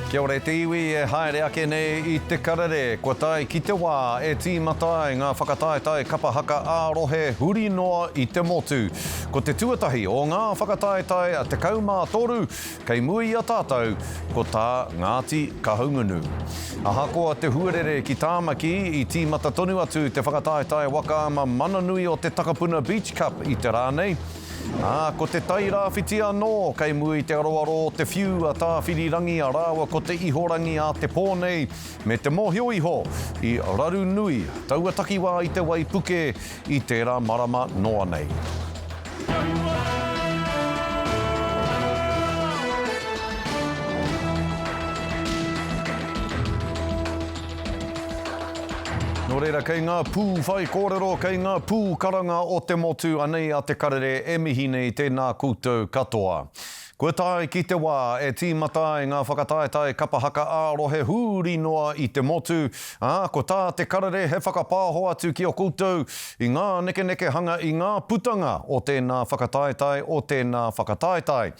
Kia ora e te iwi e haere ake nei i te karere, kua tae ki te wā e tīmata ai ngā whakataetae kapa haka ā-rohe huri noa i te motu. Ko te tuatahi o ngā whakataetae 13 kei mua i a tātou, ko tā Ngāti Kahungunu. Ahakoa te huarere ki Tāmaki, i tīmata tonu atu te whakataetae waka ama mana nui o te Takapuna Beach Cup i te rā nei, Ā, ko Te Tai Rāwhiti anō, kei mua i te aroaro o te whiu a Tāwhirirangia rāua ko Te Ihorangi a te pō nei, me te mōhio iho, i raru nui taua takiwā i te waipuke i tērā marama noa nei. Nō reira, kei ngā pū whaikōrero, kei ngā pū karanga o te motu anei a Te Karere e mihi nei tēnā koutou katoa. Kua tae ki te wā e tīmata ai ngā whakataetae kapa haka ā-rohe huri noa i te motu, ā, ko tā Te Karere he whakapāho atu ki a koutou i ngā nekenekehanga i ngā putanga o tēnā whakataetae, o tēnā whakataetae.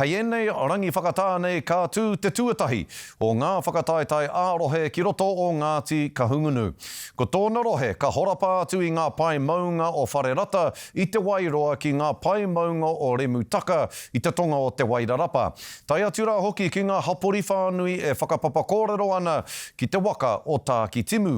Hei ēnei rangi whakatā nei ka tū te tuatahi, o ngā whakataetae ā-rohe ki roto o Ngāti Kahungunu. Ko tōna rohe ka horapa atu i ngā pae maunga o Wharerata i Te Wairoa ki ngā pae maunga o Remutaka i te tonga o Te Wairarapa, tae atu rā hoki ki ngā hapori whānui e whakapapa kōrero ana ki te waka o Tākitimu.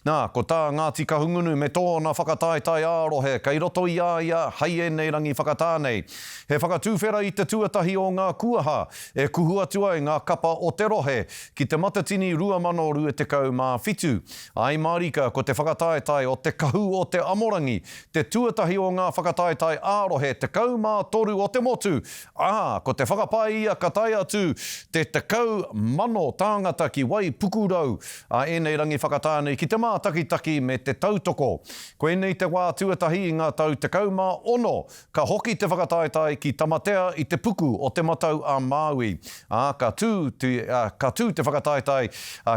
Nā, ko tā Ngāti Kahungunu me tōna whakataetae ā-rohe kei roto i a ia hei ēnei rangi whakatā nei. He whakatuwhera i te tuatahi o ngā kuaha E kuhu atu ai ngā kapa o te rohe ki Te Matatini 2027. I mārika ko te whakataetae o Te Kahu o Te Amorangi te tuatahi o ngā whakataetae ā-rohe 13 o te motu, ā, ko te whakapae ia ka tae atu te 10,000 tāngata ki wai pukurau a ēnei rangi whakatāne ki te mātakitaki me te tautoko. Koinei te wā tuatahi i ngā tau 16 Ka hoki te whakataetae ki Tamatea i te puku o Te Matau a Māui, ā, ka tū te, ka tū te whakataetae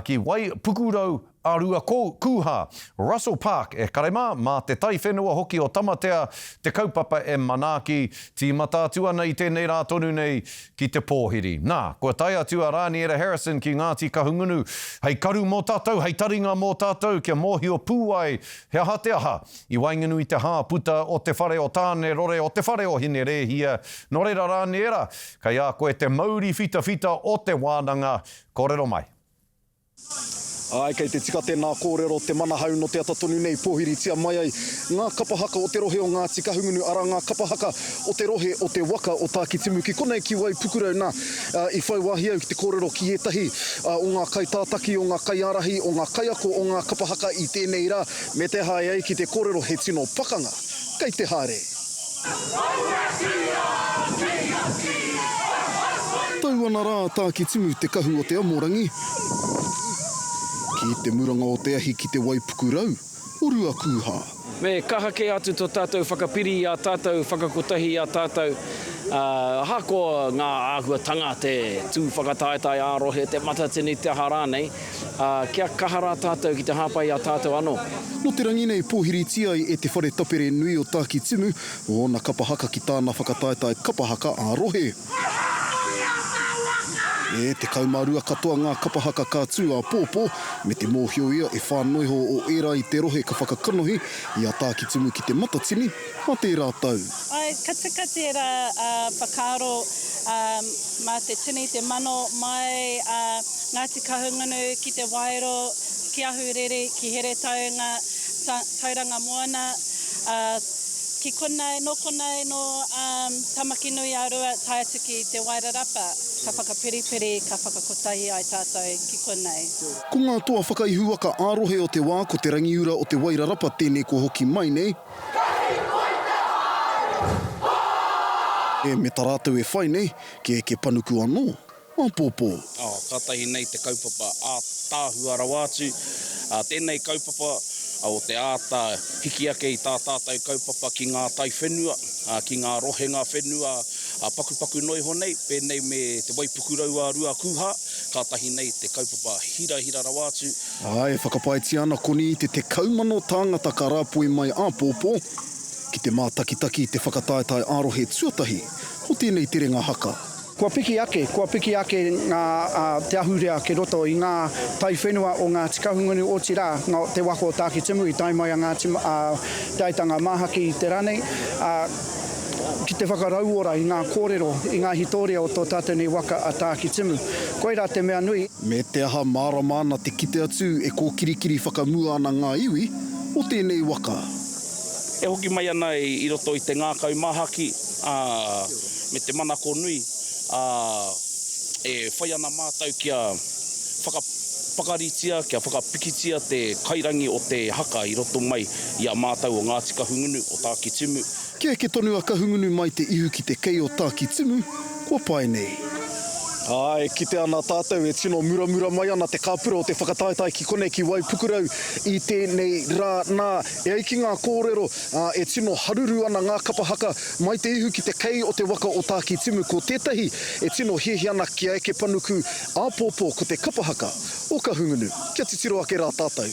ki Wai Pukurau a Rua Kūhā, Russell Park, e kare mā, mā te taiwhenua hoki o Tamatea te kaupapa e manaaki, tīmata atu ana i tēnei rā tonu nei ki te pōhiri. Nā, kua tae atu a Rāniera Harrison ki Ngāti Kahungunu hei karu mō tātou, hei taringa mō tātou kia mōhio pū ai he aha te aha I waenganui te hā puta o te whare o Tāne rore o te whare o Hine Rēhia, nō reira rā nē rā, kei a koe te mauri whitawhita o te wānanga, kōrero mai. Āe, kei te tika tēnā kōrero, te manahau nō te ata tonu nei pōhiritia mai ai ngā kapa haka o te rohe o Ngāti Kahungunu, arā, ngā kapa haka o te rohe o te waka o Tākitimu ki konei ki Waipukurau. Nā, i whai wāhi au ki te kōrero ki ētahi o ngā kaitātaki, o ngā kaiārahi, o ngā kaiako o ngā kapa haka i tēnei rā, Me te hae ai ki te korero he tino pakanga kei te haere. Tau ana ra Takitimu te kahu o te Amorangi ki te muranga o te ahi ki te waipuku rau o Ruakūha. Me kaha ke atu to tatou whakapiri i a tatou, whakakotahi i a tatou, ahakoa nga ahuatanga, te tu whakataetae a-rohe, te matatini, te aha ranei. ā, kia kaha rā tātou ki te hāpai i a tātou anō. Nō te rangi nei pōhiritia ai e Te Whare Tapere Nui o Tākitimu ōna kapa haka ki tāna whakataetae kapa haka ā-rohe. E 12 katoa ngā kapa haka ka tū āpōpō, me te mōhio ia e whā noiho o ērā i te rohe ka whakakanohi i a Tākitimu ki Te Matatini, Mā tērā tau. Ka tika tērā whakaaro mā te tini, te mano mai a Ngāti Kahungunu ki Te Waero, ki Ahuriri, ki Heretaunga, Tauranga Moana. Ki konei, nō konei, nō Tamakinuiārua tae atu ki Te Wairarapa, ka whakapiripiri, ka whakakotahi ai tātou ki konei. Ko ngā toa whakaihuwaka ā-rohe o te wā ko Te Rangiura o Te Wairarapa tēnei kua hoki mai nei, E me ta ratou e whai nei, ke ke panuku ano, apopo. Oh, katahi nei te kaupapa ataahua rawa atu. Tenei kaupapa o te ata hiki ake i ta tatou kaupapa ki nga taiwhenua, ki nga rohenga whenua pakupaku no iho nei, penei me Te Waipukurau a Ruakūhā, katahi nei te kaupapa hirahira rawa atu, Ā, e whakapaetia ana koni i te 10,000 tāngata ka rāpoi mai āpōpō ki te mātakitaki i te whakataetae ā-rohe tuatahi o tēnei terenga haka. Kua piki ake, kua piki ake ngā te ahurea ki roto i ngā taiwhenua o Ngāti Kahungunu, otirā, ngā te waka o Tākitimu i tae mai a Ngāti Te Aitanga Māhaki i te rā nei, ā, ki te whakarauora i ngā kōrero, i ngā hitoria o tō tātou nei waka a Tākitimu. Koirā te mea nui. Me te aha mārama ana te kite atu e kōkirikiri whakamua ana ngā iwi o tēnei waka. E hoki mai ana i roto i te ngākau māhaki, ā, me te manako nui, ā, e whai ana mātou kia whakapakaritia, kia whakapikitia te kairangi o te haka i roto mai i a mātou o Ngāti Kahungunu, o Tākitimu, Kia eke tonu a Kahungunu mai te ihu ki te kei o Tākitimu, kua pae nei. Ā, e kite ana tātou e tino muramura mai ana te kāpura o te whakataetae ki konei ki Waipukurau i tēnei rā. Nā, e ai ki ngā kōrero, ā, e tino haruru ana ngā kapa haka mai te ihu ki te kei o te waka o Tākitimu. Ko tētahi e tino hiahia ana kia eke panuku āpōpō ko te kapa haka o Kahungunu. Kia titiro ake rā tātou.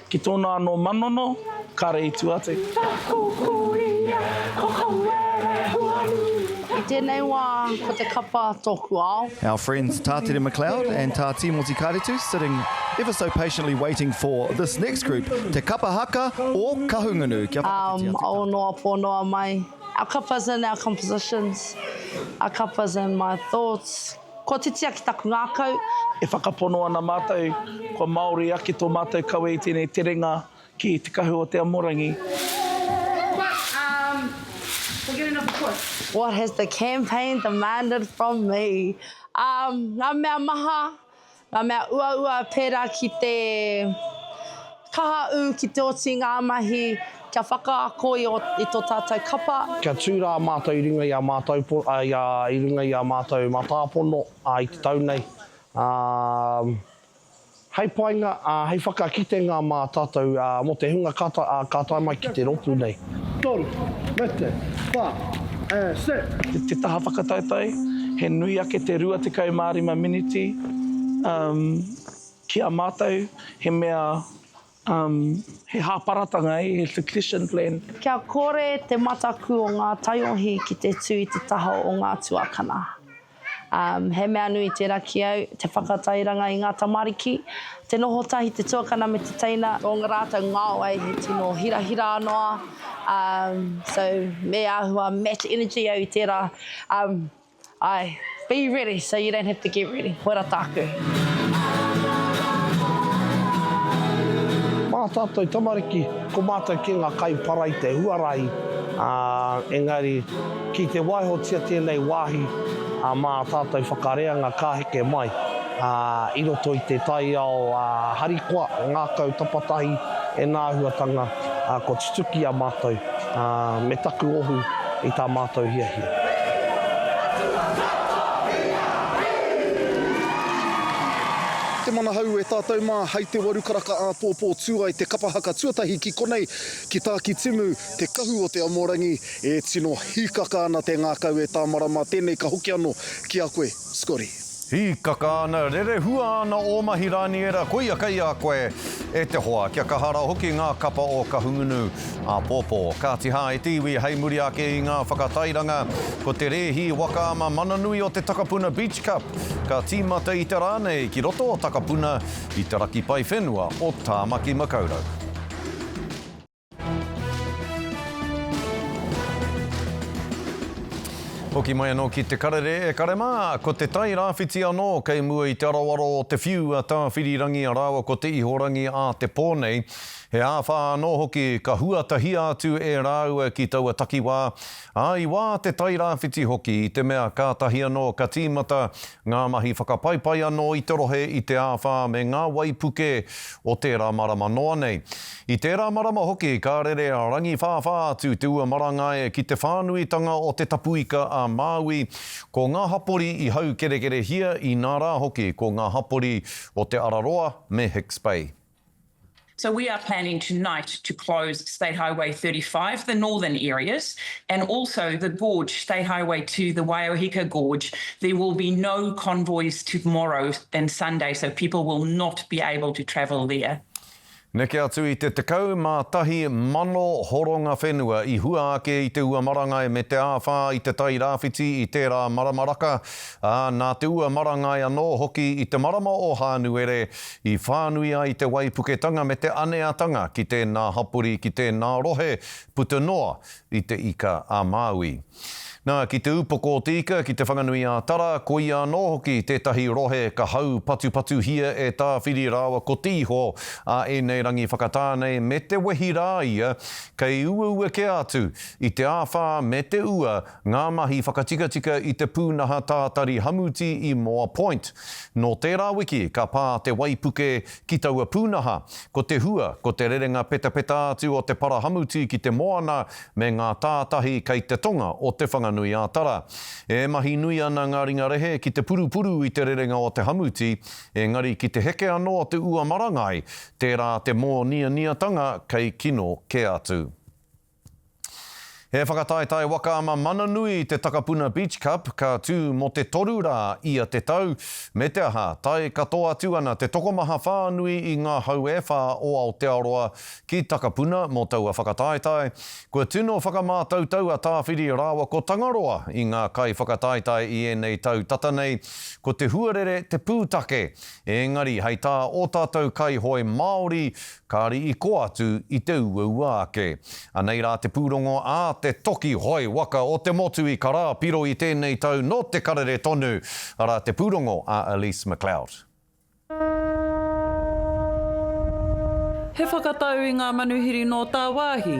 Ki tōna anō manono, kāre i tua te. Whakakokoria, ko Hauere Huaru. I tēnei wā, ko te kapa tōku ao. Our friends Tātere McLeod and Tā Tīmoti Karetu sitting ever so patiently waiting for this next group, Te Kapa Haka o Kahungunu. Kia whakawhitia te kapa. Um, ōnoa pōnoa mai. Our kapas and our compositions. Our kapas and my thoughts. Kua titia ki taku ngākau. E whakapono ana mātou, kua Māori ake tō mātou kawe i tēnei terenga ki Te Kahu o Te Amorangi. What has the campaign demanded from me? Ngā mea maha, Ngā mea uaua pērā ki te kaha ū ki te oti i ngā mahi kia whakaako i tō tātou kapa. Kia tū rā mātou i runga i a mātou, i runga i a mātou matāpono i te tau nei. Hei painga, hei whakakitenga mā tātou mō te hunga ka tae mai ki te ropu nei. Toru, mete, wha, e, set. Te taha whakataetae, he nui ake te 25 miniti, um, ki a matou, he mea, um, he hāparatanga, he succession plan. Kia kore te mataku o ngā taiohi ki te tū i te taha o ngā tuakana. He mea nui tērā ki au, te whakatairanga i ngā tamariki, te noho tahi te tuakana me te teina. Nō ngā rātou ngao ai he tino hirahira noa, so me āhua match energy au i tērā, āe, be ready so you don't have to get ready, koirā tāku. Mā tātou tamariki, ko mātou kē ngā kaipara i te huarahi, engari. Ki te waihotia tēnei wāhi mā tātou whakareanga ka heke mai i roto i te taiao harikoa, ngākau tapatahi e ngā āhuatanga kua tutuki i a mātou me taku ohu i tā mātou hiahia. Te Mana Hou e tātou mā hei te waru karaka āpōpō tū ai te kapa haka tuatahi ki konei, ki Tākitimu, te kahu o Te Amorangi, E tino hīkaka ana te ngākau e Tāmarama, tēnei ka hoki anō ki a koe, Scotty. Hīkaka ana, rerehua ana ō mahi rāniera, koia kei a koe, e te hoa, kia kaha rā hoki ngā kapa o Kahungunu āpōpō. Kāti hā, e te iwi, hei muri ake i ngā whakatairanga, ko te rēhi waka ama mana nui o te Takapuna Beach Cup, ka tīmata i te rā nei ki roto o Takapuna, i te raki pae whenua o Tāmaki Makaurau. Hoki mai anō ki Te Karere e kare mā, ko Te Tai Rāwhiti anō kei mua i te aroaro o te whiu a Tāwhirirangi rāua ko Te Ihorangi ā te pō nei. He āwhā anō hoki ka huatahia atu e rāua ki taua takiwā, ā, i wā Te Tai Rāwhiti hoki i te mea kātahi anō ka tīmata Ngā mahi whakapaipai anō i te rohe i te āwhā me ngā waipuke o tērā marama noa nei. I tērā marama hoki ka rere rangiwhāwhā atu te ua marangae ki te whānuitanga o te tapuika a Māui, ko ngā hapori i haukerekerehia inā rā hoki ko ngā hapori o Te Araroa me Hicks Bay. So we are planning tonight to close State Highway 35, the northern areas, and also the gorge, State Highway to the Waiohika Gorge. There will be no convoys tomorrow and Sunday, so people will not be able to travel there. Neke atu i te 11,000 horonga whenua i hua ake i te ua marangai me te āwhā i te tai rāwhiti i tērā marama raka, ā, nā te ua marangai anō hoki i te marama o Hānuere I whānui ai te waipuketanga me te aneatanga ki tēnā hapori, ki tēnā rohe, puta noa i Te Ika a Māui. Nā, ki Te Upoko o Te Ika, ki Te Whanganui-ā-Tara, koia anō hoki tētahi rohe ka haupatupatuhia e Tāwhiri rāua ko Te Iho a ēnei rangi whakatā nei me te wehi rā ia kei uaua kē atu i te āwhā me te ua Ngā mahi whakatikatika i te pūnaha tātari hamuti i Moa Point. Nō tērā wiki ka pā te waipuke ki taua pūnaha. Ko te hua, ko te rerenga petapeta atu o te para hamuti ki te moana me ngā tātahi kei te tonga o Te Whanganui-ā-Tara. E mahi nui ana ngā ringa rehe ki te purupuru i te rerenga o te hamuti, engari ki te heke anō te ua marangai, tērā te mōnianiatanga kei kino kē atu. He whakataetae waka ma Mananui te Takapuna Beach Cup ka tū mō te toru rā ia te tau, me te aha, tae katoa atu ana te tokomaha whānui i ngā hau e whā o Aotearoa ki Takapuna mō taua whakataetae. Kua tino whakamātautau a Tāwhiri rāua ko Tangaroa i ngā kaiwhakataetae i ēnei tau tata nei, ko te huarere te pūtake, ēngari hei tā ō tātou kaihoe Māori, Kāri i koa atu i te uaua ake. Anei rā te pūrongo ā te toki hoe waka o te motu i Karāpiro i tēnei tau nō te karere tonu, arā te pūrongo a Elise McLeod. He whakatau i ngā manuhiri nō tāwāhi.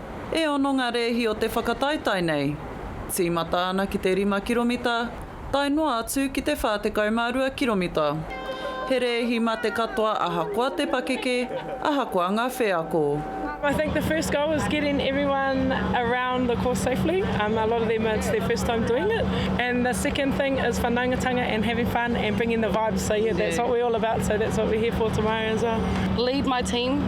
E ono ngā rēhi o te whakataetae nei. Tīmata ana ki te rima kiromita, tae noa atu ki te 42 kiromita. He rēhi mā te katoa ahakoa te pakeke, ahakoa ngā wheako. I think the first goal is getting everyone around the course safely, a lot of them it's their first time doing it, and the second thing is whanaungatanga and having fun and bringing the vibes, so yeah that's what we're all about, so that's what we're here for tomorrow as well. Lead my team.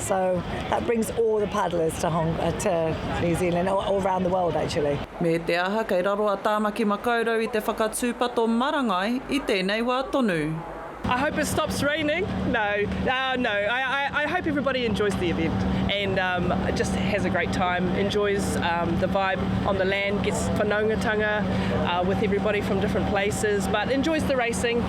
So that brings all the paddlers to Hong uh, to New Zealand or all around the world actually. Me te aha kei raro a Tāmaki Makaurau i te whakatūpato marangai i tēnei wā tonu. I hope it stops raining. No, uh, no. I, I, I, hope everybody enjoys the event and um, just has a great time, enjoys um, the vibe on the land, gets whanaungatanga uh, with everybody from different places, but enjoys the racing.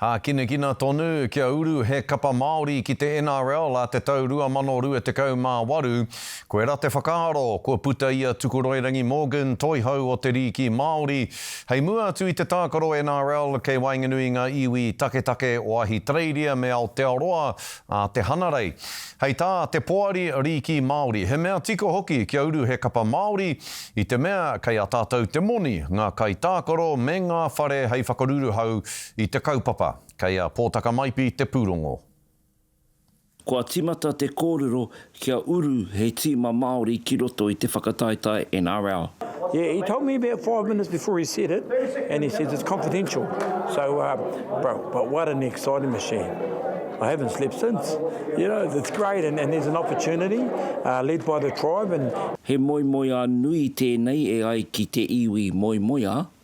Hākinakina tonu kia uru he kapa Māori ki te NRL ā te tau 2028. Koirā te whakaaro, kua puta i a Tukuroirangi Morgan, Toihau o Te Rīki Māori, hei mua atu i te tākaro NRL kei waenganui i ngā iwi taketake o Ahitereiria me Aotearoa, a te Hanarei, hei tā te Poari Rīki Māori, he mea tika hoki kia uru he kapa Māori i te mea kei a tātou te moni, ngā kaitākaro me ngā whare hei whakaruruhau i te kaupapa. Kei a Pōtakamaipi te pūrongo. Kua tīmata te kōrero Kia uru he tīma Māori ki roto i te whakataetae NRL. Yeah he told me about five minutes before he said it and he says it's confidential so um bro but what an exciting machine I haven't slept since you know it's great and there's an opportunity uh led by the tribe and. He moemoeā nui tēnei e ai ki te iwi moemoeā,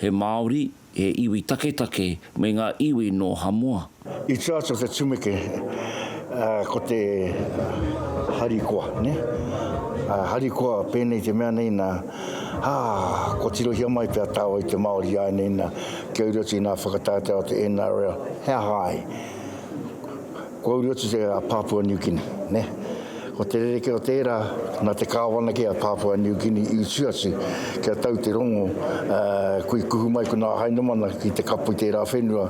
He Māori, he iwi taketake me ngā iwi nō Hamoa. I tua atu o te tumeke ko te harikoa, nē? Harikoa, pēnei te mea nei nā, ā, kua tirohia mai pea tāua i te Māori āianei nā, kia uru atu i ngā whakataetae o te NRL, he aha ai? Kua uru atu te a Papua New Guinea, ne. Ko te rerekē o tērā, nā te Kāwana kē a Papua New Guinea i utu atu kia tau te rongo, ā, kui kuhu mai ko nā Hainamana ki te kapo i tērā whenua.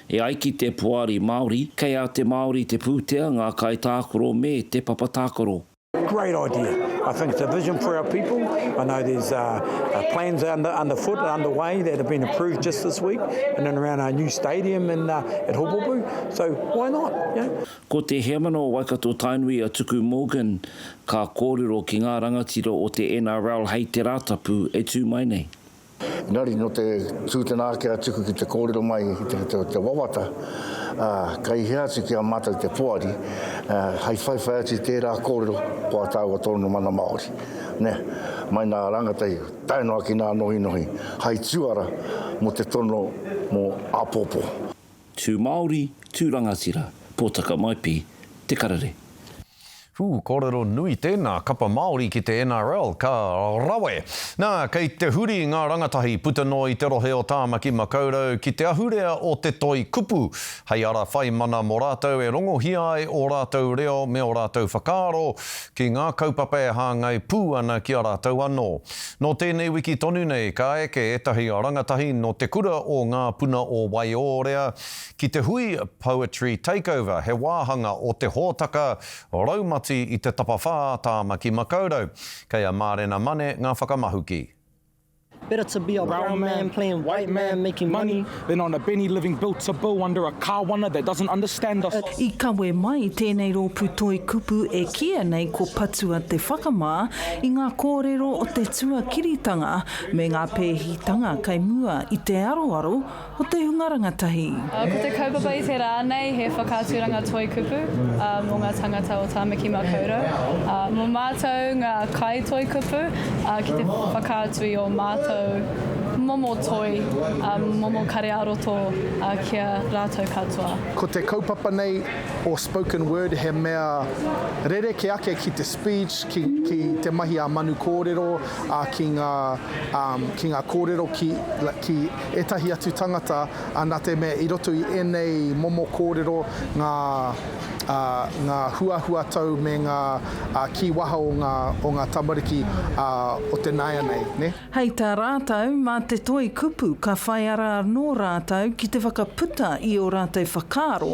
E ai ki te Poari Māori, kei a te Māori te pūtea, ngā kaitākaro me te papa tākaro. Great idea. I think it's a vision for our people. I know there's uh, uh, plans under, underfoot and underway that have been approved just this week and then around our new stadium in, uh, at Hopopu. So why not? Yeah. Ko te heamana o Waikato Tainui a Tuku Morgan ka kōrero ki ngā rangatira o te NRL hei te Rātapu e tū mai nei. Engari nō te tū tēnā ake a Tuku ki te kōrero mai i te, te, te wawata, ā, kei hea atu ki a mātou te poari, ā, hei whaiwhai atu i tērā kōrero ko a tāua tōna mana Māori. Nē, mai nā rāngatai tae noa ki nā nohinohi hai tuara mō te tono mō āpōpō. Tū Māori, tū rangatira, pōtaka maipi, te karere. Whū, kōrero nui tēnā kapa Māori ki te NRL, ka rawe! Nā, kei te huri ngā rangatahi puta noa i te rohe o Tāmaki Makaurau ki te ahurea o te toi kupu, hei ara whai mana mō rātou e rongohia ai ō rātou reo me ō rātou whakaaro ki ngā kaupapa e hāngai pū ana ki a rātou anō. Nō tēnei wiki tonu nei, ka eke ētahi rangatahi nō te kura o Ngā Puna o Waiōrea ki te hui Poetry Takeover, he wāhanga o te hōtaka raumati i te tapawhā Tāmaki Makaurau. Kei a Mārena Mane ngā whakamahuki. Better to be a brown man playing white man making money than on a Benny living bill to bill under a kawana that doesn't understand us. I kawe mai tēnei rōpū toi kupu e kīia nei ko Patua te Whakamā i ngā kōrero o te tuakiritanga me ngā pēhitanga kei mua i te aroaro Ko te hunga rangatahi. Ko te kaupapa i te rā nei he whakaaturanga toi kupu mō ngā tāngata o Tāmaki Makaurau. Mō mātou ngā kai toi kupu ki te whakaatu i ō mātou momo toi, momo kare ā-roto ki a rātou katoa. Ko te kaupapa nei o Spoken Word he mea rerekē ake ki te speech, ki te mahi ā-manu kōrero, ki ngā kōrero ki. ētahi atu tangata, ā, nā te mea i roto i ēnei momo kōrero ngā, ā, ngā huahuatau me ngā, ā, kīwaha o ngā, o ngā tamariki, ā, o te nāianei, nē. Hei tā rātou, mā te toi kupu ka whai ara anō rātou ki te whakaputa i ō rātou whakaaro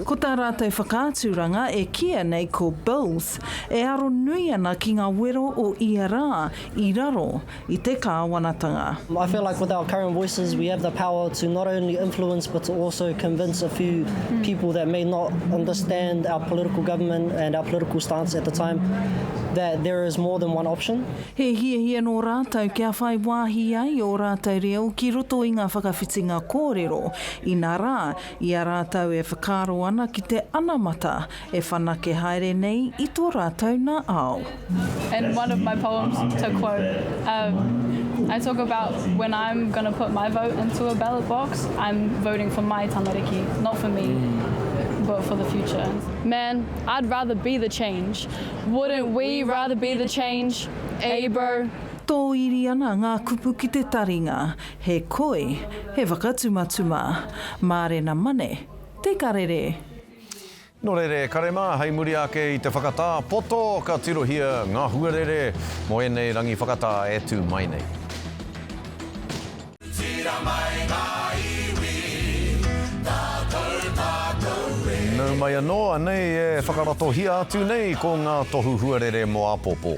Ko tā rātou whakaaturanga e kīia nei ko Bills, e aro nui ana ki ngā wero o ia rā i raro i te kāwanatanga. I feel like with our current voices we have the power to not only influence but to also convince a few people that may not understand our political government and our political stance at the time that there is more than one option. He hiahia nō rātou kia whai wāhi ai ō rātou reo ki roto i ngā whakawhitinga kōrero, inā rā, I a rātou e whakaaro ana ki te anamata e whanake haere nei i tō rātou nā ao. In one of my poems, to quote, um, I talk about when I'm going to put my vote into a ballot box, I'm voting for my tamariki, not for me, but for the future. Man, I'd rather be the change. Wouldn't we rather be the change, eh bro? Tōiri ana ngā kupu ki te taringa, He koi, he whakatumatuma. Mārena mane, te karere. Nō reira e kare mā, hei muri ake i te whakatā poto ka tirohia ngā huarere mō ēnei rangi whakatā e tū mai nei. Nau mai anō, anei e whakaratohia atu nei ko ngā tohu huarere mō āpōpō.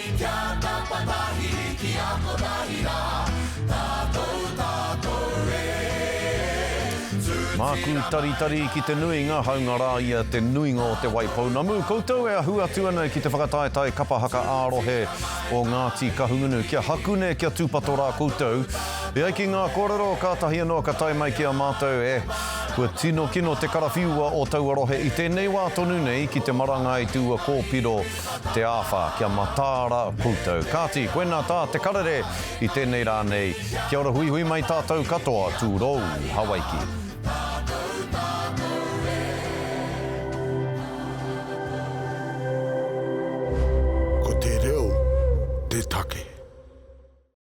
Kia tapa tahi, ki a kotahi rā, tātou, tātou e tū tīrama. Māku taritari ki te nuinga haunga rā i a te nuinga o Te Waipounamu, koutou e ahu atu ana ki te whakataetae kapa haka ā-rohe o Ngāti Kahungunu. Kia hakune, kia tūpato rā koutou. E ai ki ngā kōrero, kātahi anō ka tae mai ki a mātou e. Kua tino kino te karawhiua o taua rohe i tēnei wā tonu nei ki te marangai i te ua kōpiro, Te āwha, kia mataara koutou. Kāti, koinā tā te karere i tēnei rā nei. Kia ora huihui mai tātou katoa, tūrou, Hawaiki.